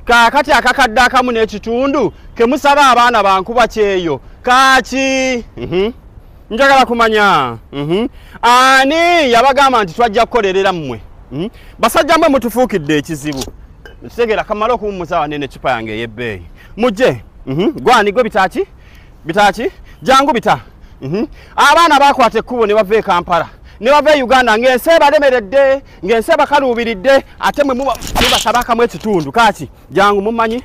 kaakati akakadde akamu n'ekitundu kemusaba abaana bankuba kyeyo kaaki mhm. njagala kumanya mhm. ani yabagamba nti twajja kukolerera mmwe mhm. basajja mwe mutufuukidde ekizibu ekitegeera kamala okuwummuza wanene ecupa yange ey'ebbeeyi mujje gwani gwe bitaaki bitaki jangu bita mhm. abaana bakwata ekkubo ne bava e kampala ne bava e uganda ng'ensi ebalemeredde ng'ensi ebakaluubiridde ate mwe mubatabakamu ekitundu kaki jangu mumanyi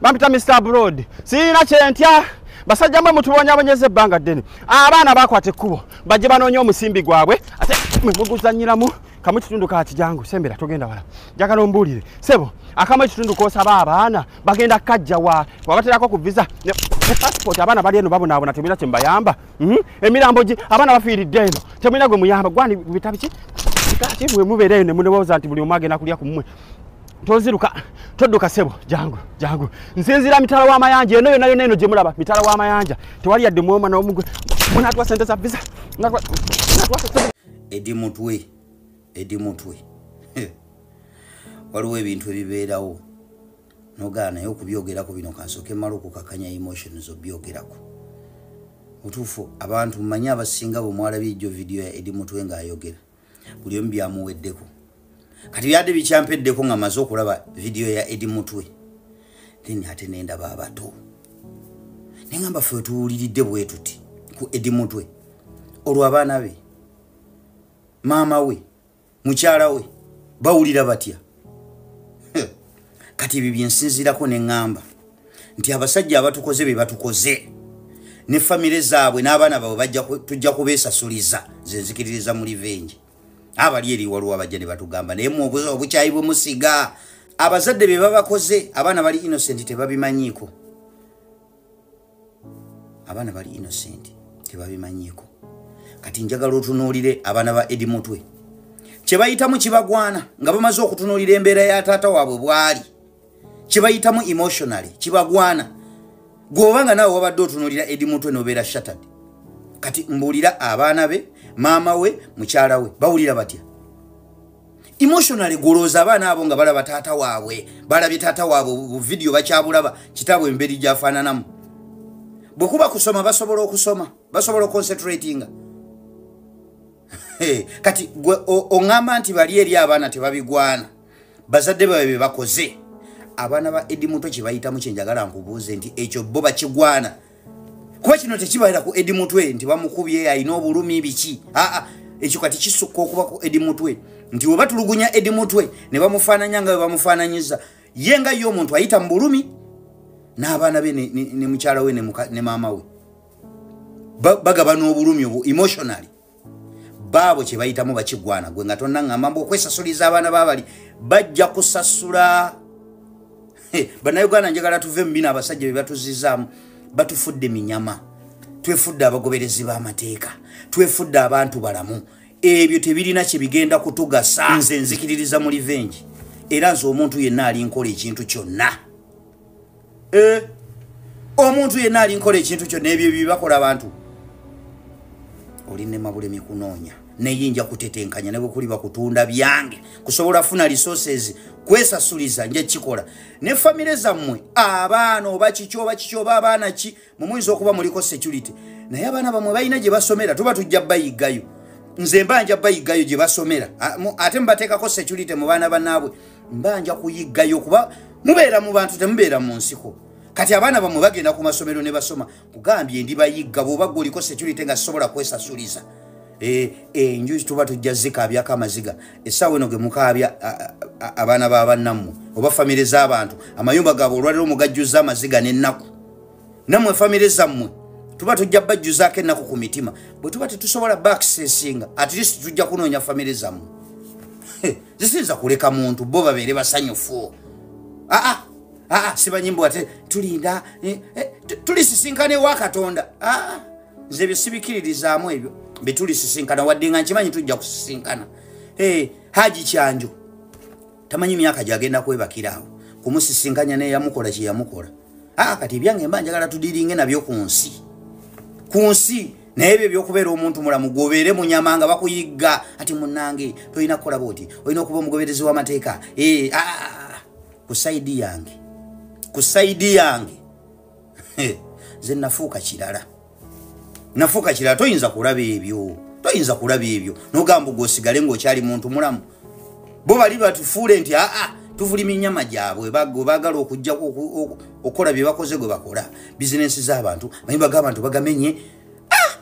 bampita mr broad sirina kyentya basajja mwe mutubonyabonyeza ebbanga ddene abaana bakwata ekkubo bajje banoonya omusimbi gwabwe ate mwe muguzanyiramu kamu kitundu ka kijangu sembera togenda wala njagala ombuulire sebo akamu ekitundu k'osaba abaana bagenda kajja wa wabaterako ku visa ne passport abaana bali eno babonaabona temulina kyembayamba mhm. emirambo gi abaana bafiiridde eno temulina gwe muyamba gwani bitabiki kati bwe mubeereyo ne munewoza nti buli omu agenda kulya ku mmwe toziruka todduka sebo jangu jangu nsinzira mitala w'amayanja eno yona yona eno gye mulaba mitala w'amayanja tewali yadde mwoma n'omugwe munatwa sente za visa edi mutwe edi mutwe waliwo ebintu ebibeerawo nogaa naye okubyogerako bino kansooke mala okukakanya emotions obyogerako mutuufu abantu mumanye abasinga bwe mwalabye ejjo vidiyo ya edi mutwe ng'ayogera buli omu byamuweddeko kati byadde bikyampeddeko nga maze okulaba vidiyo ya edi mutwe then ate nendaba abato naye ngamba fe tuwuliridde bwetuti ku edi mutwe olwo abaana be maama we mukyala we bawulira batya kati ebyo byensinziirako ne ŋŋamba nti abasajja abatukoze be batukoze ne famire zaabwe n'abaana baabwe tujja kubeesasuliza ze nzikiririza mu livengi abali eri waliwo abajja ne batugamba naye mu obukyayi bwe musiga abazadde be babakoze abaana bali innocent tebabimanyiiko abaana bali innocent tebabimanyiko kati njagala otunuulire abaana ba edi mutwe kyebayitamu kibagwana nga bamaze okutunuulira embeera ya taata waabwe bwali kyebayitamu emotionally kibagwana gweoba nga naawe wabadde otunuulira edi mutwe nobeera shattered kati mbuulira abaana be maama we mukyala we bawulira batya emotionally gulooza abaana abo nga balaba taata waabwe balabye taata waabwe buvidiyo bakyabulaba kitaabwe emberi gyafaananamu bwe kuba kusoma basobola okusoma basobola oconcentratinga kati gwe oŋŋamba nti bali eri abaana tebabigwana bazadde babe be bakoze abaana ba edi muto kye bayitamu kye njagala nkubuuze nti ekyo bo bakigwana kuba kino tekibalira ku edi mutwe nti bamukubye alina obulumi biki aa ekyo kati kisukka okuba ku edi mutwe nti weba tulugunya edi mutwe ne bamufaananya nga webamufaananyiza ye nga ye omuntu ayita mu bulumi n'abaana be ne mukyala we ne maama we bagaba n'obulumi obwo emotionally baabo kye bayitamu bakigwana gwe nga tonna ŋŋamba mbu okwesasuliza abaana babali bajja kusasula bannayuganda njagala tuve mu bino abasajja be batuzizaamu batufudde minyama twefudde abagoberezi b'amateeka twefudde abantu balamu ebyo tebirina kye bigenda kutugasa nze nzikiririza mu livengi era nze omuntu yenna alinkola ekintu kyonna eh, omuntu yenna alinkola ekintu kyo nebyo byebakola abantu olinnemabulemi kunoonya neyinja kutetenkanya nebwekuliba kutunda byange kusobola funa resources kwesasuliza nja kikola ne famire zammwe abaana oba kiki oba kiki oba abaana ki mumuyinza okuba muliko security naye abaana bamwe balina gye basomera tuba tujja bayiggayo nze mba nja bayiggayo gye basomera ate mubateekako security mu baana banaabwe mba nja kuyiggayo kuba mubeera mu bantu temubeera mu nsiko kati abaana bamwe bagenda ku masomero ne basoma kugambye ndi bayigga bwoba gwe oliko security nga sisobola kwesasuliza eh, enju e, tuba tujja zikaabyako amaziga essaawa eno ge mukaabya abaana ba bannammwe oba famire z'abantu amayumba gaabwe olwaliro mugajjuzza amaziga n'ennaku namwe famire zammwe tuba tujja bajjuzaako ennaku ku mitima bwe tuba tetusobola bakisesinga at least tujja kunoonya famire zammwe zisiyinza kuleka muntu bo babeere basanyufu aa aa sibanyimbo ate tulinda eh, eh, tulisisinkana ewa katonda aa nze ebyo sibikiririzaamu ebyo betulisisinkana wadde nga nkimanyi tujja kusisinkana eh, haji kyanjo tamanyi myaka gyagenda kwebakira awo kumusisinkanya neyamukola kyeyamukola aa ah, kati ebyange mba njagala tudiringe nabyo ku nsi ku nsi naye ebyo ebyokubeera omuntu mulamu gwobeere munyama nga bakuyigga ati munange tolina kukola bwoti olina okuba omugoberezi w'amateeka ee eh, aa ah, ah, ah, ku saidi yange ku saidi yange nze nafuuka kirala nafuuka kirala toyinza kulaba ebyo toyinza kulaba ebyo nogamba gwe osigale ngaokyali muntu mulamu bo bali batufuule nti aa tuvulima enyama gyabwe bagala okujja okukola byebakoze gwe bakola bizinensi zabantu mayimba gabantu bagamenye ah!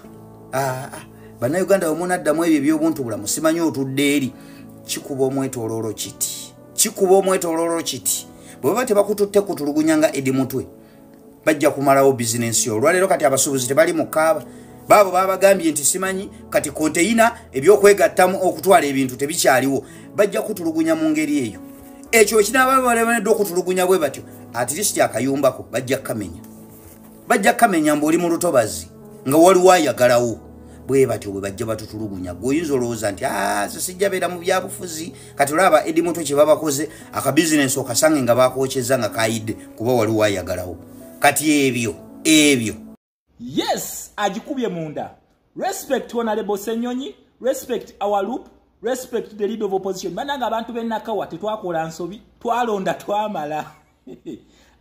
ah, ah. banauganda wemunaddamu ebyo ebyobuntu bulamu simanyi otudde eri kikuba omwetololo kiti kikuba omwetololo kiti bwebaba tebakututte kutulugunya nga edi mutwe bajja kumalawo bizinensi yo olwaleero kati abasuubuzi tebali mu kaaba baabo babagambye nti simanyi kati konteyina ebyokwegattamu okutwala ebintu tebikyaliwo bajja kutulugunya mu ngeri eyo ekyo ekinaaba balebaneddwa okutulugunya bwe batyo atirisiti akayumbako bajja kukamenya bajja kukamenya mbu oli mu lutobazi nga waliwo ayagalawo bwe batyo bwe bajja batutulugunya gwe oyinza olowooza nti ase ah, sijja beera mu byabufuzi kati olaba edi muto kyebabakoze akabizinensi okasange nga bakokyeza nga kayidde kuba waliwo ayagalawo kati ebyo ebyo yes agikubye munda respect honorable senyonyi respect our loop respect the lead of opposition bananga abantu benakawa tetwakola nsobi twalonda twamala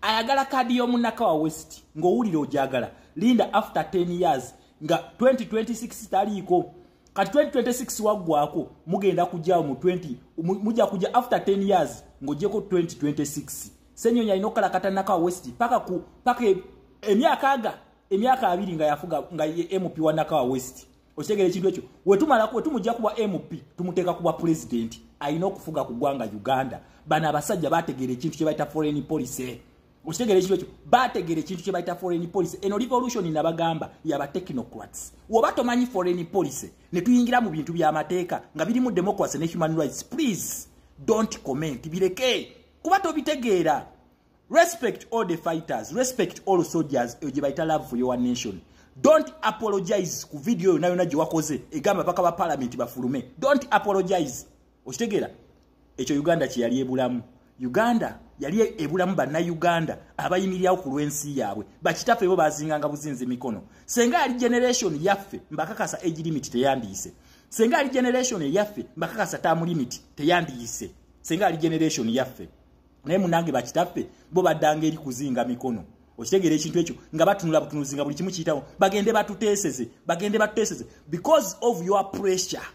ayagala kadi yomunakawa west ngowulira ojagala linda after 10 years nga 2026 taliiko kati 2026 waggwako mugenda kujjawo mu 20 mujja kujja after 10 years ng'ogyeko 2026 senyonyi alina okukalakatanako a west paka ku paka e, emyaka aga emyaka abiri nga yafuga nga ye mp wa nakawa west okitegera ekintu ekyo wetumala wetumujja kuba mp tumuteeka kuba pulezidenti alina okufuga ku ggwanga uganda bano abasajja bategeera ekintu kye bayita foreign policy okitegera ekintu ekyo bategera ekintu kye bayita foreign policy eno revolution nabagamba yaba technocrats woba tomanyi foreign policy ne tuyingira mu bintu by'amateeka nga birimu democracy ne human rights please don't comment bireke kuba tobitegeera respect all the fighters respect all soldiers eyo gye bayita love for your nation don't apologize ku video yona yona gye wakoze egamba baka ba parliament bafulume don't apologize okitegeera ekyo uganda kyeyali ebulamu uganda yali ebulamu bannayuganda abayimirirawo ku lw'ensi yaabwe bakitaffe bo bazinganga buzinzi mikono senga yali generation yaffe mbakakasa age limit teyandiyise senga yali generation eyaffe mbakakasa term limit teyandiyise senga yali generation yaffe naye munange bakitaffe bo baddanga eri kuzinga mikono okitegeera ekintu ekyo nga batunula butunuzi nga buli kimu kiyitawo bagende batuteeseze bagende batuteeseze because of your pressure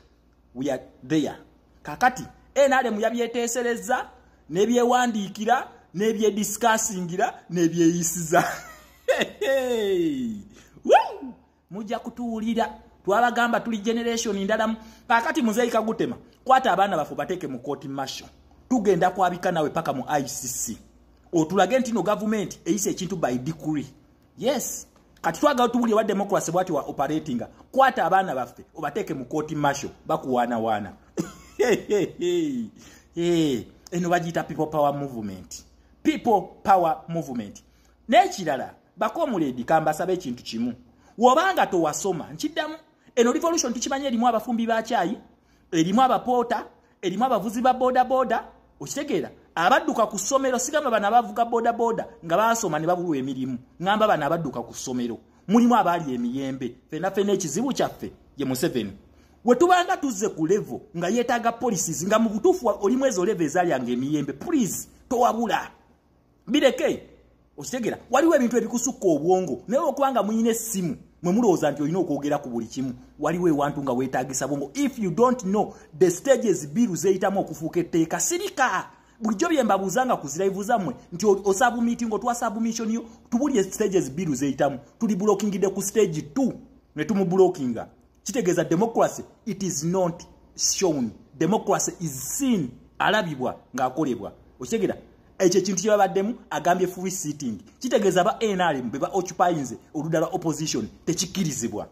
we are there kakati nrm yabyeteeserezza nebyewandiikira nebyedisikasingira nebyeyisiza mujja kutuwulira twabagamba tuli generation ndalamu kakati muzeeyi kagutema kwata abaana bafe bateeke mu kooti masho tugenda kwabika nawe paka mu icc otulage ntino gavumenti eyisa ekintu by decree yes kati twagala tubuli wa democracy bwati wa operating kwata abaana baffe obateke mu court marshal bakuwana wana eh eno bajita people power movement people power movement nekirala bako muledi kamba sabe kintu kimu wobanga to wasoma nkiddamu eno revolution tukimanyi elimu abafumbi ba chai elimu abapota erimu abavuzi ba bodaboda okitegeera abadduka ku ssomero sigamba bana abavuga bodaboda nga baasoma ne babulwa emirimu ngamba bana abadduka ku ssomero mulimu abaali emiyembe fena fena ekizibu kyaffe ye museveni wetubanga tuzze ku levo nga yeetaaga policies nga mu butuufu oli mwezi oleva ezalyanga emiyembe please towabula bireke okitegera waliwo ebintu ebikusukka obwongo naye okubanga muyina essimu mwe mulowooza nti olina okwogera ku buli kimu waliwo ewantu nga weetagisa bwongo if you don't know the stages biru zeyitamu okufuuka etteeka sirika bulijjo bye mbabuuza nga kuzirayivu zammwe nti osabumiti ngaotwa sabumitioni yo tubulire stages biru zeyitamu tuli bulokingidde ku stage t ne tumubulokinga kitegeeza democracy it is not shown democracy is seen alabibwa ng'akolebwa okitegera ekyo ekintu kye babaddemu agambye free sitting kitegeeza ba nrm be ba occupyinze oludda lwa opposition tekikkirizibwa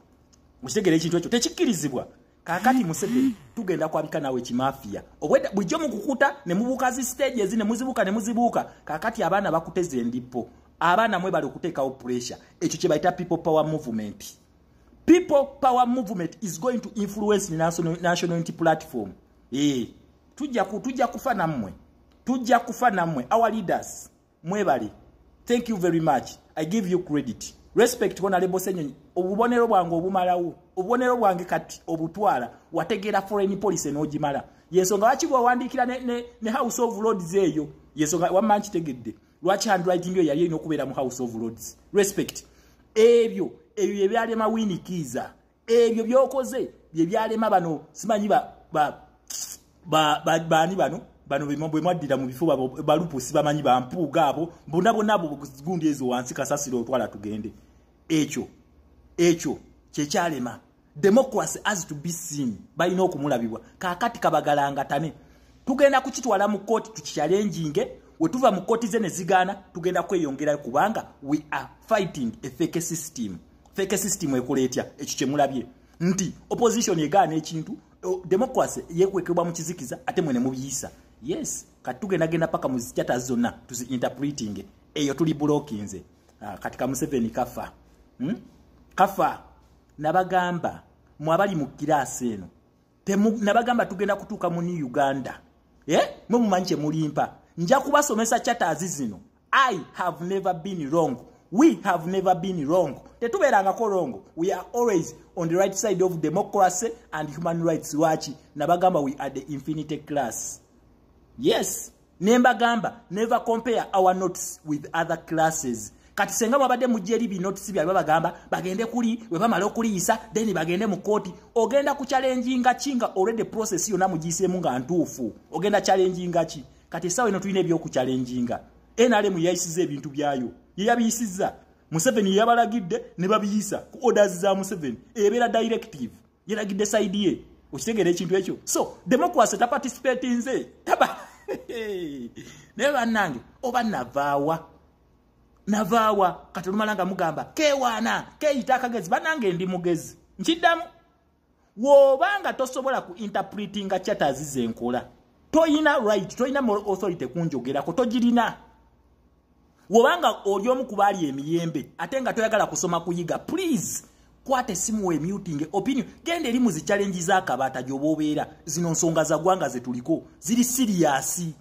okitegera ekintu ekyo tekikkirizibwa kakati museveni tugenda kwabika nawe kimafiya obwedda bulijjo mukukuta ne mubuuka zi stage ezi ne muzibuuka ne muzibuuka kakati abaana bakuteza endippo abaana mwe bali okuteekawo pressure ekyo kye bayita people power movement people power movement is going to influence the national, national unity platform ee eh, tujja ku tujja kufa nammwe tujja kufa nammwe our leaders mwebale thank you very much i give you credit respect kona lebo senyonyi obubonero bwange obumalawo obubonero bwange kati obutwala wategeera foreign policy n'ogimala yensonga wakigwa owandiikira ne, ne, ne house of lords eyo yensonga wamma nkitegedde lwaki handwriting yo yali erina okubeera mu house of lords respect ebyo ebyo byebyalema wini kiiza ebyo byokoze byebyalema bano simanyi baani bano bano bwemwaddira mu bifo balupusi bamanyi bampuuga abo bona bona abo gundi ezo wansi kasasiro otwala tugende ekyo ekyo kyekyalema democracy as to be seen balina okumulabibwa kakati kabagalangatane tugenda kukitwala mu kooti tukikyalenjinge wetuva mu kooti ze nezigaana tugenda kweyongerayo kubanga we are fighting a fake system fake system ekola etya ekyo kyemulabye nti opposition egaana ekintu democracy yekwekebwa mu kizikiza ate mwene mubiyisa yes kati tugenda genda paka mu zikyata zonna tuzi interpreting eyo tuli bulokinze ah, kati kamuseveni kafa hmm? kafa nabagamba mwe abali mu kiraasi eno nabagamba tugenda kutuuka mu new uganda e mwe mumanyi kye mulimpa nja kubasomesa chataazi zino i have never been wrong we have never been wrong tetubeerangako wrong we are always on the right side of democracy and human rights lwaki nabagamba we are the infinity class yes nembagamba never compare our notes with other classes kati senga babadde mujja eri binotes byabwe babagamba bagende kuli we bamala okuliyisa then bagende mu kkooti ogenda ku challenginga ki nga already process yonna mugiyiseemu nga ntuufu ogenda challenginga ki kati essaawa eno tulina ebyokuchallenginga nrm yeyayisiza ebintu byayo yeyabiyisizza museveni yeyabalagidde ne babiyisa ku orders za museveni ebeera directive yalagidde saidi ye okitegeera ekintu ekyo so demokwasi taparticipatinze taba naye bannange oba navaawa navaawa kati olumala nga mugamba kewaana keyita akagezi bannange ndi mugezi nkiddamu woba nga tosobola ku interpretinga chatters zenkola toyina right toyina moral authority kunjogerako togirina wobanga oli omu ku baali emiyembe ate nga toyagala kusoma kuyiga please kwata esimu wemutinge opinion genda eri mu zichallengi z'akabaata gy'oba obeera zino nsonga za ggwanga ze tuliko ziri siriyasi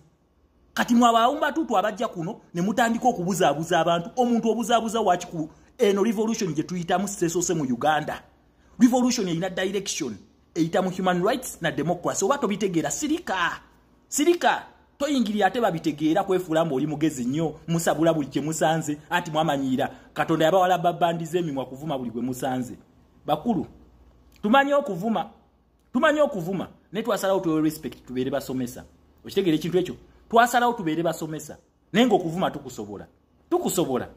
kati mwe abawumbatuutu abajja kuno ne mutandika okubuzaabuza abantu omuntu obuzaabuza waki ku eno revolution gye tuyitamu sesoose mu uganda revolution erina direction eyita mu human rights na democracy oba tobitegeera sirika sirika toyingirira ate babitegeera kwefuula mbu oli mugezi nnyo musabula buli kyemusanze anti mwamanyiira katonda yabawala babandiza emimwa kuvuma buli gwe musanze bakulu tumanyi okuvuma tumanyi okuvuma naye twasalawo tuwe respect tubeere basomesa okitegeera ekintu ekyo twasalawo tubeere basomesa naye ngaokuvuma tukusobola tukusobola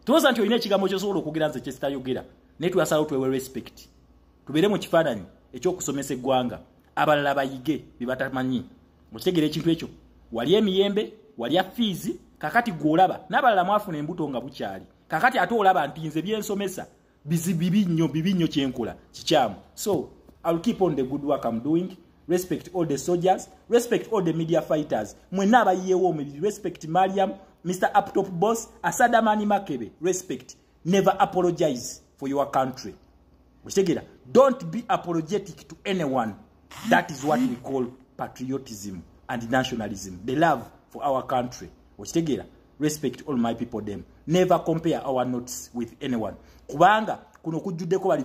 tuwoza nti olina ekigambo kyosobola okwogera nze kyesitayogera naye twasalawo twewe respect tubeere mu kifaananyi ekyokusomesa eggwanga abalala bayige bebatamanyi okitegeera ekintu ekyo wali emiyembe walya fiizi kakati gweolaba n'abalala mwafuna embuto nga bukyali kakati ate olaba nti nze byensomesa bizi bibi nnyo bibi nnyo kyenkola kikyamu so ill keep on the good work am doing respect all the soldiers respect all the media fighters mwenna abayiyewo omubiri respect mariam mr uptop boss asadamani makebe respect never apologize for your country okitegera don't be apologetic to anyone that is what we call patriotism and nationalism the love for our country okitegera respect all my people them never compare our notes with anyone kubanga kuno kujjuddeko bali